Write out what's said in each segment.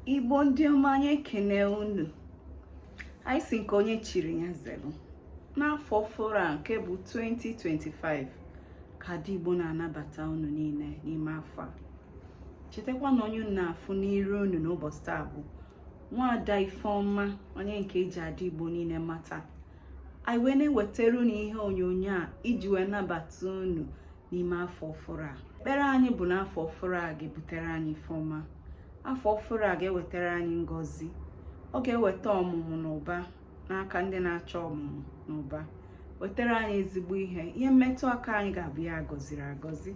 igbo ndị ọma anyị ekene unu anyị sị nke onye chiri ya zelu n'afọ ọfụrụ a nke bụ 2025 ka ada igbo na-anabata unu niile n'ime afọ a chetakwa na onye unu na-afụ n'iru unu n'ụbọchị taa bụ nwaada ifeọma onye nke eji ada igbo niile mata anyị wee na-ewetara unu ihe onyonyo a iji wee nabata unu n'ime afọ ọfụrụ a ekpere anyị bụ na afọ ọfụrụ a ga-ebutere anyị ife ọma afọ ọfụrụ a ga-ewetara anyị ngọzi ọ ga-eweta ọmụmụ na ụba n'aka ndị na-achọ ọmụmụ na ụba wetara anyị ezigbo ihe ihe mmetụ aka anyị ga-abụ ihe a gọziri agọzi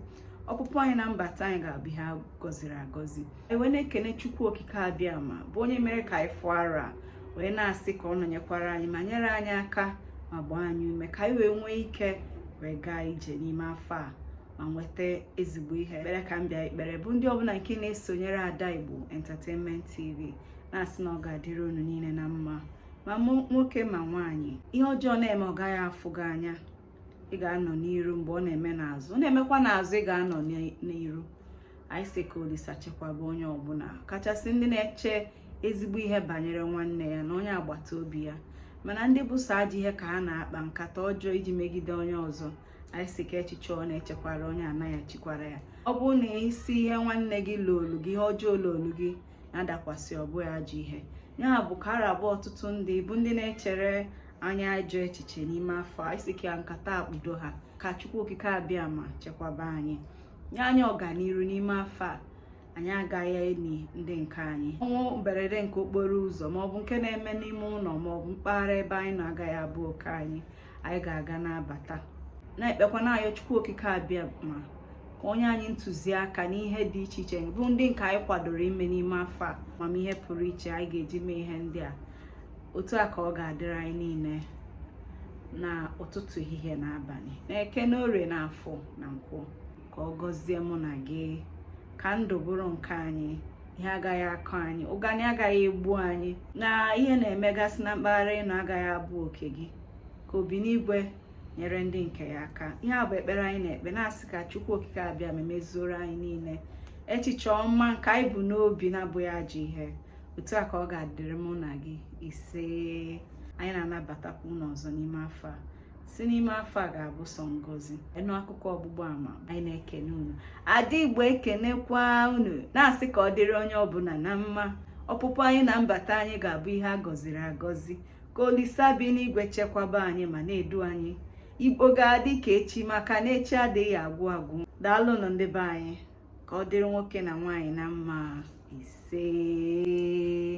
ọpụpụ anyị na mbata anyị ga-abụ ihe a gọziri agọzi e wee na-ekene chukwu okike abịama bụ onye mere ka anyị fụ arọ a wee na-asị ka ọ nọnyekwara anyị ma nyere anyị aka ma gbaa anyị ume ka anyị wee nwee ike wee gaa ije n'ime afọ a ma nweta ezigbo ihe ekpere ka m bịa ikpere bụ ndị ọbụla nke na-esonyere ada igbo entertainment tv na-asị na ọ ga-adịrị unu niile na mma ma nwoke ma nwaanyị ihe ọjọọ na-eme ọ gaghị afụ gị anya ị ga-anọ n'iru mgbe ọ na-eme n'azụ ọ na-emekwa n'azụ ị ga-anọ n'iru anyị sị ka olisa chekwaba onye ọbụla kachasị ndị na-eche ezigbo ihe banyere nwanne ya na onye agbata obi ya mana ndị bụ sọ ajọ ihe ka ha na-akpa nkata ọjọọ iji megide onye ọzọ anyị sị ka echiche ọ na-echekwara onye anaghị echekwara ya ọ bụrụ na ị sị ihe nwanne gị lolu gị ihe ọjọọ lolu gị ya dakwasị ọ bụghị ajọ ihe ya bụ ka ara abụ ọtụtụ ndị bụ ndị na-echere anyị ajọ echiche n'ime afọ a anyị sị ka nkata kpudo ha ka chukwu okike abịama chekwaba anyị nye anyị ọganiru n'ime afọ a anyị agaghị eni ndị nke anyị ọnwụ mberede nke okporo ụzọ maọbụ nke na-eme n'ime ụlọ maọbụ mpaghara ebe anyị nọ agaghị abụ oke anyị anyị ga-aga na-abata na-ekpekwa na-ayọ chukwu okike abịama ka o nye anyị ntụziaka n'ihe dị iche iche bụ ndị nke anyị kwadoro ime n'ime afọ a amamihe pụrụ iche anyị ga-eji mee ihe ndị a otu a ka ọ ga-adịrị anyị niile na ụtụtụ ehihie na abalị na eke n'orie na afọ na nkwọ ka ọ gọzie mụ na gị ka ndụ bụrụ nke anyị ihe agaghị akọ anyị ụgani agaghị egbu anyị na ihe na-emegasị na mpaghara ị nọ agaghị abụ oke gị ka obinigwe nyere ndị nke ya aka ihe a bụ ekpere anyị na-ekpe na-asị ka chukwu okike abịama mezuoro anyị niile echiche ọma nke anyị bu n'obi na-abụghị ajọ ihe otu a ka ọ ga-adịrị mụ na gị isee anyị na-anabatakwa unu ọzọ n'ime afọ a sị n'ime afọ a ga-abụ sọ ngọzi ịnụ akụkọ ọgbụgba ama anyị na-ekene unu ada igbo ekenekwa unu na-asị ka ọ dịrị onye ọbụla na mma ọpụpụ anyị na mbata anyị ga-abụ ihe a gọziri agọzi ka olisa bi n'igwe chekwaba anyị ma na-edu anyị igbo ga-adị ka echi maka na echi adịghị agwụ agwụ daalụnụ ndị be anyị ka ọ dịrị nwoke na nwaanyị na mma isee